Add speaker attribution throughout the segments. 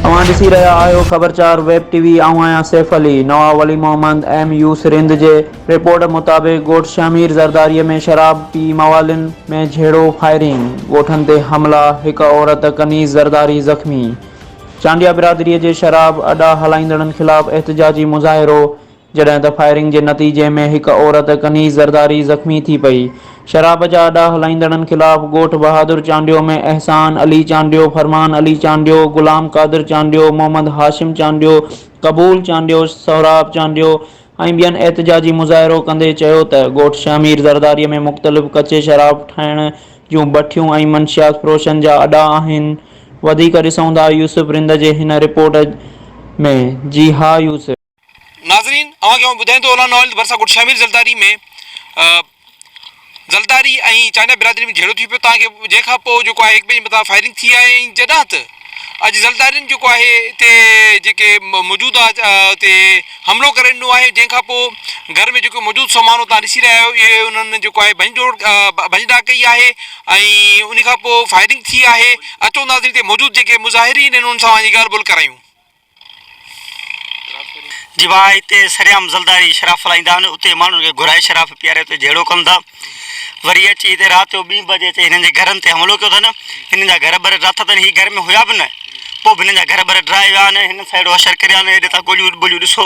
Speaker 1: اوهان ڏسي رهيا آهيو خبر چار ويب ٽي وي آئون آهيان سيف علي. نواب ولي محمد ايم يو سرند جي رپورٽ مطابق ڳوٺ شهمير زرداري ۾ شراب پي موالين ۾ جهيڙو فائرنگ ڳوٺن تي حملا هڪ عورت ڪنيز زرداري زخمي چانڊيا برادري جي شراب اڏا هلائيندڙن خلاف احتجاجي مظاهرو جڏهن ته فائرنگ جي نتيجي ۾ هڪ عورت ڪنيز زرداري زخمي ٿي پئي. شراب جا اڏا هلائيندڙن خلاف ڳوٺ بهادر چانڊيو ۾ احسان علي چانڊيو، فرمان علي چانڊيو، غلام قادر چانڊيو، محمد هاشم چانڊيو، قبول چانڊيو، سهراب چانڊيو ۽ ٻين احتجاجي مظاهرو ڪندي چيو ته ڳوٺ شهمير زرداري ۾ مختلف ڪچي شراب ٺاهڻ جون بٺيون ۽ منشيات فروشن جا اڏا آهن وڌيڪ ڏسون ٿا يوسف رند جي هن رپورٽ ۾ جي ها يوسف. ناظرين
Speaker 2: اوهان کي آئون ٻڌائين ٿو اولان آئل ڀرسان ڳوٺ شاهمير زلداري ۾ زلداري ۽ چانڊيا برادري ۾ جهيڙو ٿي پيو تان کي جنهن کان پوء جيڪو آهي هڪ ٻئي جي مٿان فائرنگ ٿي آهي ۽ جڏهن ته اڄ زلدارين جيڪو آهي اتي جيڪي موجوده اتي حملو ڪري ڏنو آهي جنهن کان پوء گهر ۾ جيڪو موجود سامان تان ڏسي رهيا آهيو اهي انهن جيڪو آهي ڀڃ ڊوڙ ڀڃ ڊاڪ ڪئي آهي ۽ ان کان پوء فائرنگ ٿي آهي اچو ناظرين اتي موجود جيڪي مظاهرين انهن سان وڃي ڳالهه ٻولهه ڪرايون
Speaker 3: جيوا هتي سرعام زلداري شراب ڦلائيندا آهن، اتي ماڻهن کي گهرائي شراب پياري اتي جهيڙو ڪن ٿا. وري اچي هتي رات جو ٻين بجي اچي هنن جي گهرن تي حملو ڪيو اٿن. هنن جا گهر ٻر ڊاٿا اٿن، هي گهر ۾ هيا به نه، پوء به هنن جا گهر ٻر ڊهرائي ويا آهن. هنن سان اهڙو اشر ڪريو آهن، هيڏي تان گوليون ٻوليون ڏسو.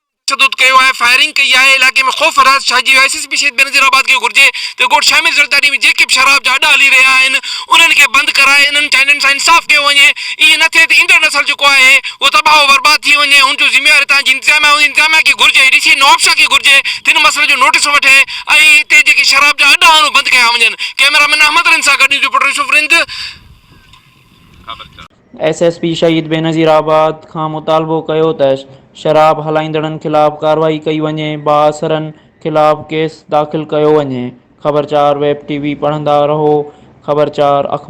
Speaker 2: تشدد ڪيو آهي، فائرنگ ڪئي آهي، علائقي ۾ خوف راج ڇائجي ويو آهي، S S P Shaheed Benazir آباد کي گھرجي ته ڳوٺ شامل زرداري ۾ جيڪي به شراب جا اڏا ھلي رھيا آھن انھن کي بند ڪرائي انھن چائنن سان انصاف ڪيو وڃي ائين نه ٿئي ته ايندڙ نسل جيڪو آھي اھو تباھو برباد ٿي وڃي ھن جو ذميوار ھتان جي انتظاميا ھوندي انتظاميا کي گھرجي ڊي سي نوابشاھ کي گھرجي ته ھن مسئلي جو نوٽس وٺي ۽ ھتي جيڪي شراب جا اڏا آھن اھي بند ڪيا وڃن ڪئميرا مين احمد رند سان گڏ نيوز رپورٽر يوسف رند خبر چار.
Speaker 1: S S P Shaheed Benazir آباد کان مطالبو ڪيو ته شراب هلائيندڙن خلاف ڪارروائي ڪئي وڃي، بااثرن خلاف ڪيس داخل ڪيو وڃي. خبر چار ويب ٽي وي پڙهندا رهو خبر چار اخبار.